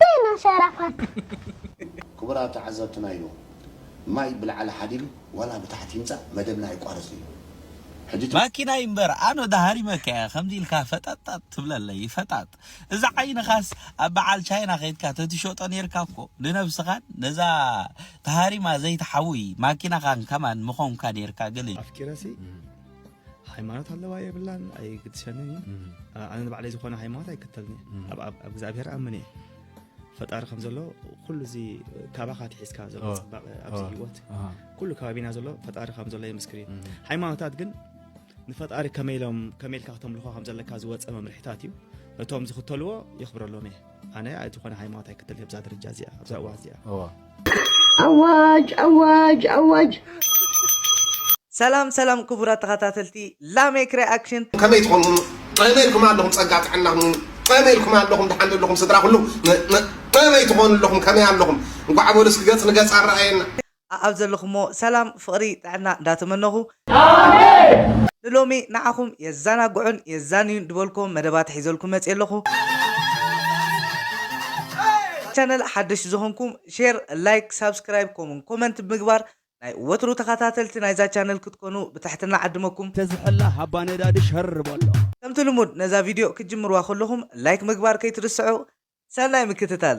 ታይ ናሰራ ፓርት። ክቡራት ተዓዘብትና ኢሉ ማይ ብላዕሊ ሓዲሩ ዋላ ብታሕቲ ይምፃእ መደብና ኣይቋረፅን እዩ ሕጂ እቲ። ማኪናይ እምበር ኣነ ዶ ሃሪመካ እየ ከምዚ ኢልካ ፈጠጣጥ ትብለለይ ፈጣጥ እዚ ዓይንኻስ ኣብ በዓል ቻይና ከይድካ ተትሸጦ ኔርካ እኮ ንነብስኻን ነዛ ተሃሪማ ዘይትሓውይ ማኪናኻን ከማን ምኾንካ ኔርካ ግን። ኣፍቂረሲ ሃይማኖት ኣለዋ የብላን ኣይግድሰንን እዩ ኣነ ንባዕለይ ዝኾነ ሃይማኖት ኣይከተልን እየ ኣብ እግዚኣብሔር ኣምን እየ ፈጣሪ ከም ዘሎ ኩሉ እዚ ካባኻ ትሒዝካ ዘሎ ፅባቐ ኣብዚ ሂወት ኩሉ ከባቢና ዘሎ ፈጣሪ ከም ዘሎ የምስክር እዩ ሃይማኖታት ግን ንፈጣሪ ከመይ ኢሎም ከመይ ኢልካ ክተምልኾ ከም ዘለካ ዝወፀ መምርሒታት እዩ ነቶም ዝኽተልዎ የኽብረሎም እየ ኣነ ዝኾነ ሃይማኖት ኣይክተል ኣብዛ ደረጃ እዚኣ ኣብዛ እዋን እዚኣ ኣዋጅ ኣዋጅ ኣዋጅ ሰላም ሰላም ክቡራት ተኸታተልቲ ላሜክ ሪኣክሽን ከመይ ትኾኑ ጠመይ ኢልኩም ኣለኹም ፀጋ ጥዕና ሁኑ ጠመይ ኢልኩም ኣለኹም ድሓን ዘለኹም ስድራ ኩሉ ጠመይ ትኾኑ ኣለኹም ከመይ ኣለኹም እንኳዕ በሉ እስኪ ገፅ ንገፅ ኣረኣየና ኣኣብ ዘለኹሞ ሰላም ፍቕሪ ጥዕና እንዳተመነኹ ንሎሚ ንዓኹም የዛናግዑን የዛንዩን ድበልኩዎም መደባት ሒዘልኩም መጽየ ኣለኹ ቻነል ሓደሽቲ ዝኾንኩም ሼር ላይክ ሳብስክራይብ ኮሙን ኮመንት ብምግባር ናይ ወትሩ ተኻታተልቲ ናይዛ ቻነል ክትኮኑ ብትሕትና ዓድመኩም። ተዝሕላ ሃባ ነዳዲ ሸር በሎ። ከምቲ ልሙድ ነዛ ቪድዮ ክትጅምርዋ ከለኹም ላይክ ምግባር ከይትርስዑ ሰናይ ምክትታል።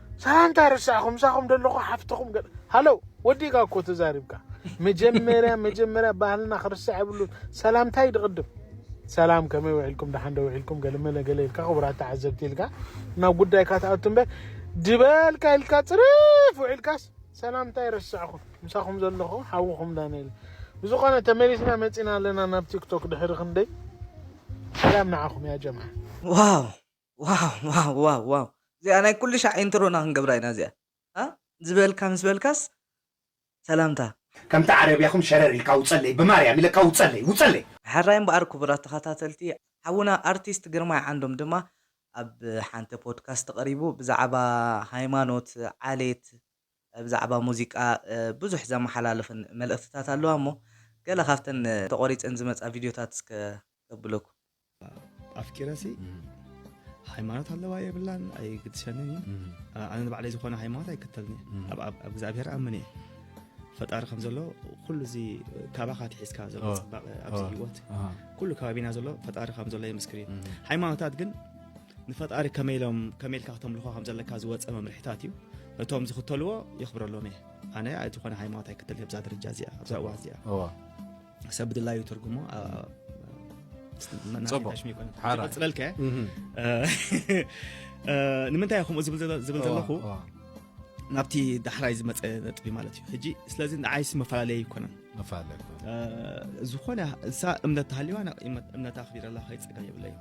ሳላ እንታይ ረሳዕኹም ምሳኹም ደለኹ ሓፍትኹም ገ ሃለው ወዲእካ እኮ ተዛሪብካ መጀመርያ መጀመርያ ባህልና ክርስዕ የብሉ ሰላምታይ ድቕድም ሰላም ከመይ ውዒልኩም ደሓን ዶ ውዒልኩም ገለመለ ገለ ኢልካ ክቡራት ተዓዘብቲ ኢልካ ናብ ጉዳይካ ትኣቱ እምበር ድበልካ ኢልካ ፅርፍ ውዒልካስ ሰላምታይ ረሳዕኹም ምሳኹም ዘለኹ ሓውኹም ዳንኤል ብዝኾነ ተመሊስና መፂና ኣለና ናብ ቲክቶክ ድሕሪ ክንደይ ሰላም ንዓኹም ያ ጀማ ዋው ዋው ዋው ዋው ዋው እዚኣ ናይ ኩሉ ሻዕ ኢንትሮና ክንገብራ ኢና እዚኣ እ ዝበልካ ምስ በልካስ ሰላምታ። ከምቲ ዓረብያኹም ሸረር ኢልካ ውጸለይ ብማርያም ኢለካ ውጸለይ ውጸለይ። ሕራይ እምበኣር ክቡራት ተኸታተልቲ ሓውና ኣርቲስት ግርማይ ዓንዶም ድማ ኣብ ሓንቲ ፖድካስት ቀሪቡ ብዛዕባ ሃይማኖት ዓሌት ብዛዕባ ሙዚቃ ብዙሕ ዘመሓላልፍን መልእኽትታት ኣለዋ እሞ ገለ ካብተን ተቖሪጸን ዝመጻ ቪድዮታት እስከ ከብለኩም። ኣፍቂረሲ ሃይማኖት ኣለዋ የብላን ኣይግድሰንን እዩ ኣነ ንባዕለይ ዝኾነ ሃይማኖት ኣይክተልን እየ ኣብ ኣብ- ኣብ እግዚኣብሔር ኣምን እየ ፈጣሪ ከም ዘሎ ኩሉ እዚ ካባኻ ትሒዝካ ዘሎ ኦ፣ ፅባቐ ኣብዚ ኦ። ህይወት ኣሃ። ኩሉ ከባቢና ዘሎ ፈጣሪ ከም ዘሎ የምስክር እዩ ሃይማኖታት ግን ንፈጣሪ ከመይ ኢሎም ከመይ ኢልካ ክተምልኾ ከም ዘለካ ዝወፀ መምርሒታት እዩ ነቶም ዝኽተልዎ የኽብረሎም እየ ኣነ ዝኾነ ሃይማኖት ኣይክተል ኣብዛ ደረጃ እዚኣ ኣብዛ እዋ እዚኣ ሰብ ብድላዩ ትርጉሞ ፅለልከ ንምንታይ ከምኡ ዝብል ዘለኹ ናብቲ ዳሕራይ ዝመፀ ነጥቢ ማለት እዩ ሕጂ ስለዚ ንዓይስ መፈላለየ ኣይኮነን መፈላለየ ዝኾነ እንሳ እምነት ተሃልዋ እምነት ኣኽቢረላ ከይፀገ የብለ እዩ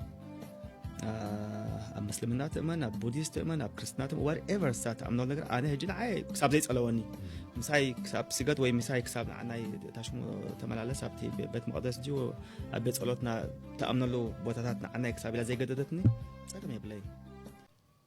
ኣብ ምስልምና ትእመን ኣብ ቡዲስት ትእመን ኣብ ክርስትና ትእመን ዋት ኤቨር ሳ ትኣምኖ ነገር ኣነ ሕጂ ንዓይ ክሳብ ዘይፀለወኒ ምሳይ ክሳብ ስገድ ወይ ምሳይ ክሳብ ንዓናይ ታሽሙ ተመላለስ ኣብቲ ቤት መቅደስ እ ኣብ ቤት ፀሎትና ተኣምነሉ ቦታታት ንዓናይ ክሳብ ኢላ ዘይገደደትኒ ፀገም የብለይ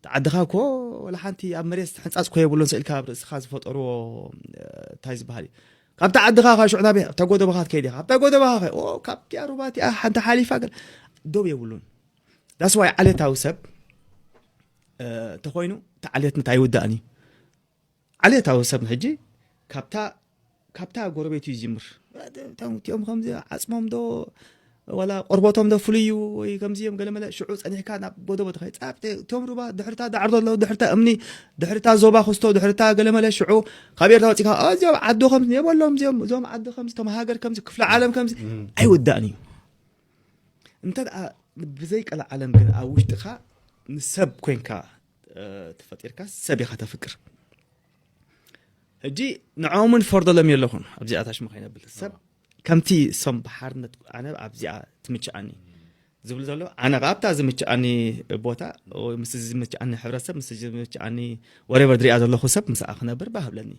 እቲ ዓድኻ እኮ ወላ ሓንቲ ኣብ መሬት ሕንጻጽ እኮ የብሉን ስእልካ ኣብ ርእስኻ ዝፈጠርዎ እንታይ ዝበሃል እዩ ካብቲ ዓድኻ ካብ ሽዑ ናበይ ኣብታ ጎደባኻ ትከይድ ኢኻ ኣብታ ጎደባኻ ከ ኦ ካብቲኣ ሩባ እቲኣ ሓንቲ ሓሊፋ ገለ ዶብ የብሉን ዳስዋይ ዓሌታዊ ሰብ እንተኮይኑ እቲ ዓሌት እንታይ ይውዳእን እዩ ዓሌታዊ ሰብ ሕጂ ካብታ ካብታ ጎረቤቱ ይጅምር እቶም እቲኦም ከምዚ ዓፅሞም ዶ ዋላ ቆርቦቶም ዶ ፍሉይ እዩ ወይ ከምዚ እዮም ገለመለ ሽዑ ፀኒሕካ ናብ ጎደቦ ተኸይፃ እቶም ሩባ ድሕርታ ዳዕሮ ዘለዉ ድሕርታ እምኒ ድሕርታ ዞባ ክስቶ ድሕርታ ገለመለ ሽዑ ካብ ኤርትራ ወፂእካ እዚኦም ዓዱ ከምዚ የበሎም እዚኦም እዞም ዓዲ ከምዚ እቶም ሃገር ከምዚ ክፍለ ዓለም ከምዚ ኣይውዳእን እዩ እንተ ብዘይቀለ ዓለም ግን ኣብ ውሽጥኻ ንሰብ ኮንካ ተፈጢርካ ሰብ ኢኻ ተፍቅር ሕጂ ንዖምን ፈርደሎም የለኹን ኣብዚኣ ታሽሙ ከይነብል ሰብ ከምቲ ሶም ብሓርነት ኣነ ኣብዚኣ ትምችኣኒ ዝብሉ ዘሎ ኣነ ከ ኣብታ ዝምችኣኒ ቦታ ምስ ዝምችኣኒ ሕብረተሰብ ምስ ዝምችኣኒ ወሬበር ዝሪኣ ዘለኹ ሰብ ምስኣ ክነብር ባህብለኒ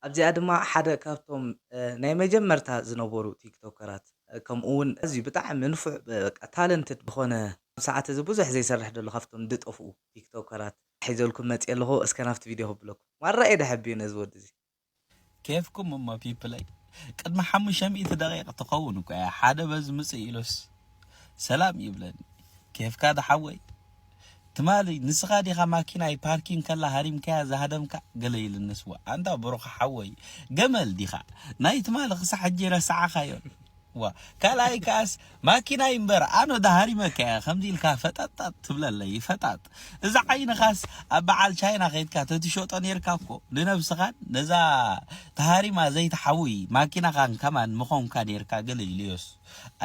ኣብዚኣ ድማ ሓደ ካብቶም ናይ መጀመርታ ዝነበሩ ቲክቶከራት ከምኡ ውን ኣዝዩ ብጣዕሚ ንፉዕ በቃ ታለንትድ ዝኾነ ኣብዚ ሰዓት እዚ ብዙሕ ዘይሰርሕ ደሎ ካብቶም ድጠፍኡ ቲክቶከራት ሒዘልኩም መጽየ ኣለኹ እስከ ናብቲ ቪድዮ ከብለኩም ማራ እየ ደሐብዮ ነዚ ወዲ እዚ። ኬፍኩም እሞ ፒፕለይ ቅድሚ ሓሙሽተ ሚእቲ ደቂቅ ትከውን እኮ እያ ሓደ በዚ ምጽእ ኢሉስ። ሰላም ይብለኒ ኬፍካ ዶ ሓወይ ትማሊ ንስኻ ዲኻ ማኪናይ ፓርኪን ከላ ሃሪምካያ ዝሃደምካ ገለ ኢልኒ ስዋ ኣንታ ብሩኽ ሓወይ ገመል ዲኻ ናይ ትማሊ ክሳዕ ሕጂ ረሳዕኻዮን ዋ ካልኣይ ከኣስ ማኪናይ እምበር ኣነ ዶ ሃሪመካያ ከምዚ ኢልካ ፈጠጣጥ ትብለለይ ፈጣጥ እዚ ዓይንኻስ ኣብ በዓል ቻይና ከይድካ ተትሸጦ ኔርካ እኮ ንነብስኻን ነዛ ተሃሪማ ዘይትሓውይ ማኪናኻን ከማን ምኾንካ ኔርካ ገለ ኢልዮስ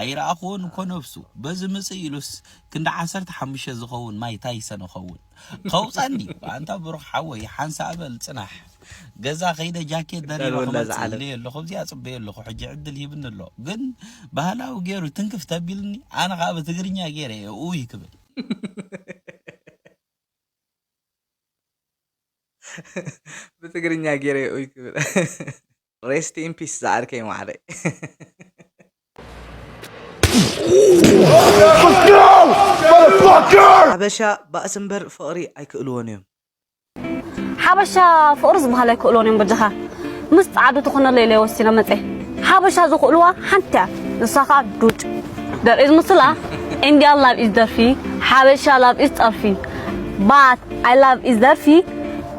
ኣይረኣኹዎን እኮ ነብሱ በዚ ምጽእ ኢሉስ ክንዲ ዓሰርተ ሓሙሽተ ዝኸውን ማይ ታይሰን እኸውን ከውጻኒ ኣንታ ብሩኽ ሓወይ ሓንሳእ በል ጽናሕ ገዛ ከይደ ጃኬት ደሪበ ክመጽእ ኢለዮ ኣለኹ ኣብዚኣ ጽበዮ ኣለኹ ሕጂ ዕድል ሂብኒ ኣሎ ግን ባህላዊ ገይሩ ትንክፍ ተቢልኒ ኣነ ከዓ ብትግርኛ ገይረ እየ ኡይ ክብል ብትግርኛ ገይረ እየ ኡይ ክብል Rest in peace ዝዓርከይ ማዕረይ ሓበሻ ባእሲ እምበር ፍቕሪ ኣይክእልዎን እዮም ሓበሻ ፍቕሪ ዝበሃል ኣይክእልዎን እዮም በጃኻ ምስ ጻዕዱ ትኾነለ ኢለ ወሲነ መጸ ሓበሻ ዝኽእልዋ ሓንቲ እያ ንሳ ከዓ ዱጭ ደርኢ ዝምስላ ኢንዲያ ላቭ ኢዝ ደርፊ ሓበሻ ላቭ ኢዝ ጸርፊ ባት ኣይ ላቭ ኢዝ ደርፊ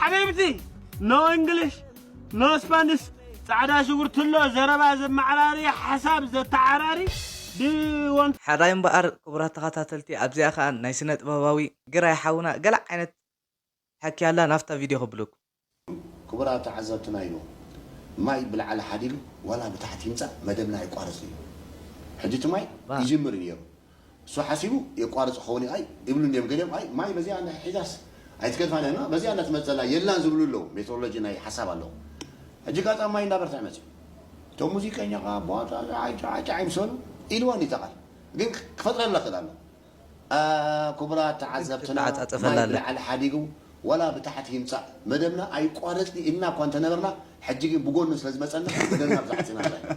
ሓቢብቲ ኖ እንግሊሽ ኖ ስፓንሽ ጻዕዳ ሽጉርቲ ኣሎ ዘረባ ዘመዓራሪ ሓሳብ ዘተዓራሪ ብ ሐራይ እምበኣር ክቡራት ተኻታተልቲ ኣብዚኣ ከኣ ናይ ስነ ጥበባዊ ግራይ ሓውና ገለ ዓይነት ሕክያ ኣላ ናብታ ቪድዮ ከብለኩም። ክቡራት ተዓዘብትና ኢሉ ማይ ብላዕሊ ሓዲሩ ዋላ ብታሕቲ ይምጻእ መደብና ኣይቋረጽን ኢዩ ሕጂ እቲ ማይ ይጅምር ኢዩ ኔሩ። እሱ ሓሲቡ የቋርጽ ክኸውን እዩ ኣይ ይብሉ እንድዮም ገሊኦም ኣይ ማይ በዚኣ እንድሕር ሒዛስ ኣይትገድፋን እያ እማ በዚኣ እንዳ ትመጽእ ዘላ የላን ዝብሉ ኣለዉ ሜትሮሎጂ ናይ ሓሳብ ኣሎ ሕጂ ጋጣም ማይ እንዳበርትዐ መጺኡ እቶም ሙዚቀኛ ከኣ ብዋጣ ጫዓጫዓይ ምስ በሉ ኢልወን እዩ እታ ቃል ግን ክፈጥረላ ይኽእል ኣሎ ክቡራት ተዓዘብትና ማይ ብላዕሊ ሓዲጉ ዋላ ብታሕቲ ይምጻእ መደብና ኣይቋረጽን እዩ ኢልና እኳ እንተነበርና ሕጂ ግን ብጎኑ ስለ ዝመጸና መደብና ኣብዛ ዓጺና ኣላ ኢና።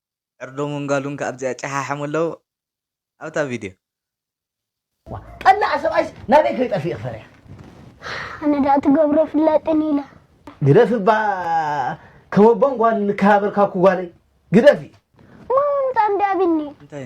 ዕርዶምን ጋሉን ክኣ ኣብዚኣ ጨሓሕሙ ኣለዉ ኣብታ ቪድዮ። ዋእ ቀላዓ ሰብኣይስ ናበይ ከይጠፊኢ ክፈርያ። ኣነ ድኣ ትገብሮ ፍላጥን ኢለ። ግደፊ እባ ከመቦን ጓል ንከባበር ካብኩ ጓለይ ግደፊ። እሞ ምምጻእ እንድያ ኣቢኒ። እንታይ?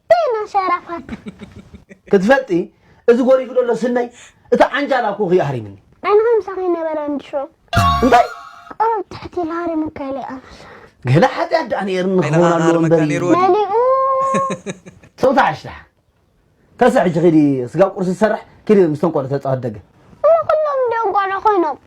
ዜና ሸራፋት። ክትፈልጢ እዚ ጎሪፉ ደሎ ስነይ እቲ ዓንጃል ኣኩኩ እዩ ኣህሪምኒ። ኣነ ከምሳኺ ይነበረ እንድሾ። እንታይ? ቆርብ ትሕት ኢሉ ሃሪሙካ ኢለይ ኣነስ። ገለ ሓጥያት ደኣ ነይርኒ ኣይላ ክኸውን ኣለዎ ኣርመካ እምበር ነይሩ እዩ። ወዲ መሊኡ። ጽውታ ዓሽ ደሓን ተስእ ሕጂ ኪዲ ስጋብ ቁርሲ ዝሰርሕ ኪዲ ምስቶም ቆልዑ ተጻወት ደገ። እሞ ኩሎም ድዮም ቆልዑ ኮይኖም።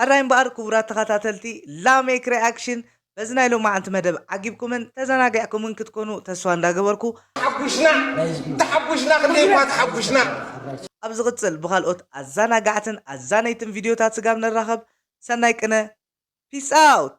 ሕራይ እምበኣር ክቡራት ተኸታተልቲ ላሜክ ሪኣክሽን በዚ ናይ ሎማዓንቲ መደብ ዓጊብኩምን ተዛናጊዕኩምን ክትኮኑ ተስፋ እንዳገበርኩ። ተሓጉሽና ተሓጉሽና ክንደይ እኳ ተሓጉሽና። ኣብ ዝቕጽል ብኻልኦት ኣዛናጋዕትን ኣዛነይትን ቪድዮታት ስጋብ ንራኸብ ሰናይ ቅነ Peace out!